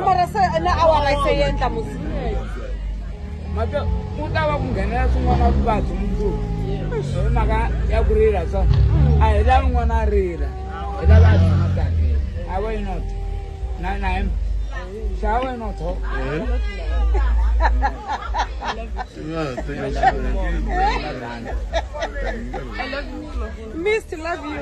mara se na awara se yi endla musi mhaka ku ta va ku nghenela swin'wana vuvabyi mundzuku hi mhaka ya ku rila so a hi lavi n'wana a rila hi lava a tshama kahle a vo yi not na na him xa a vo yi not ho mist love you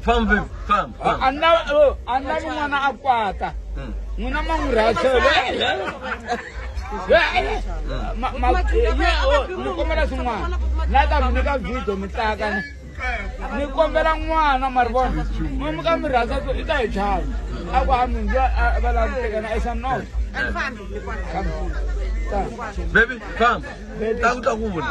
famba famba famba anna oh, anna ni n'wana a kwata Mm. n'wina ma n'wi rhathele ni kombela swin'wana na ta mi nyika video mi tlaka ni ni kombela n'wana ma ri vona mi mi ka mi rhandza ku i ta hi chava a ku ha minzu va lava ku tekana i said no Come. Come. baby famba ta ku ta ku vula